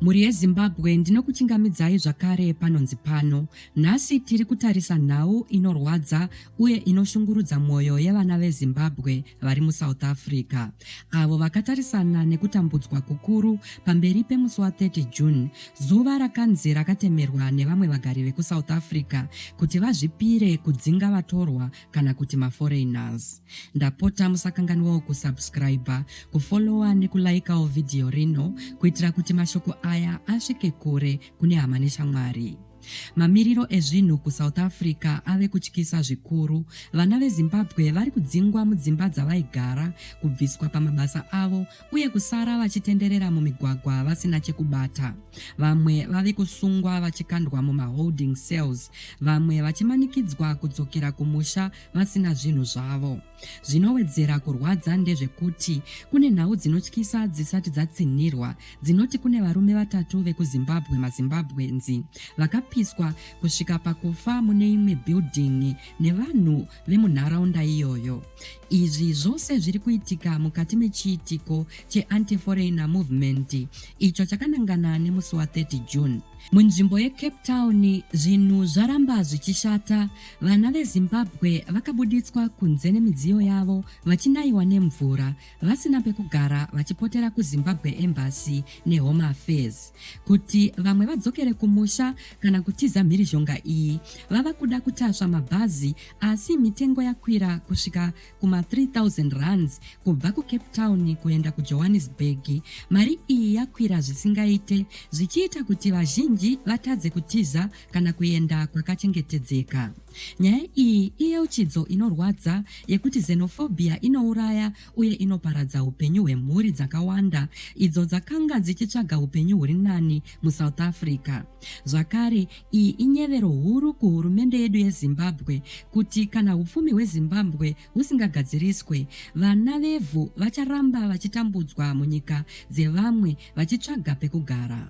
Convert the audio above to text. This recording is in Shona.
Mhuri yeZimbabwe ndinokuchingamidzai zvakare panonzi pano. Nhasi tiri kutarisa nhau inorwadza uye inoshungurudza mwoyo yevana veZimbabwe vari muSouth Africa avo vakatarisana nekutambudzwa kukuru pamberi pemusi wa 30 June, zuva rakanzi rakatemerwa nevamwe vagari vekuSouth Africa kuti vazvipire kudzinga vatorwa kana kuti maforeigners ndapota musakanganwawo kusubscriber kufollowa nekulaikawo vhidhiyo rino kuitira kuti mashoko aya asvike kure kune hama neshamwari mamiriro ezvinhu kusouth africa ave kutyisa zvikuru vana vezimbabwe vari kudzingwa mudzimba dzavaigara kubviswa pamabasa avo uye kusara vachitenderera mumigwagwa vasina chekubata. Vamwe vave kusungwa vachikandwa mumaholding cells, vamwe vachimanikidzwa kudzokera kumusha vasina zvinhu zvavo. Zvinowedzera kurwadza ndezvekuti kune nhau dzinotyisa dzisati dzatsinhirwa dzinoti kune varume vatatu vekuzimbabwe mazimbabwenzi vakapiswa kusvika pakufa mune imwe bhildhingi nevanhu vemunharaunda iyoyo. Izvi zvose zviri kuitika mukati mechiitiko cheAnti-Foreigner Movement icho chakanangana nemusi wa 30 June. Munzvimbo yeCape Town zvinhu zvaramba zvichishata, vana veZimbabwe vakabuditswa kunze nemidziyo yavo vachinaiwa nemvura vasina pekugara vachipotera kuzimbabwe embassy nehome affairs kuti vamwe vadzokere kumusha kana kutiza mhirizhonga iyi vava kuda kutasva mabhazi asi mitengo yakwira kusvika kuma 3000 runs kubva kucape town kuenda kujohannesburg mari iyi yakwira zvisingaite zvichiita kuti vazhinji vatadze kutiza kana kuenda kwakachengetedzeka. Nyaya iyi iyeuchidzo inorwadza yekuti xenophobia inouraya uye inoparadza upenyu hwemhuri dzakawanda idzo dzakanga dzichitsvaga upenyu huri nani musouth africa zvakare iyi inyevero huru kuhurumende yedu yezimbabwe kuti kana upfumi hwezimbabwe husingagadziriswe vana vevhu vacharamba vachitambudzwa munyika dzevamwe vachitsvaga pekugara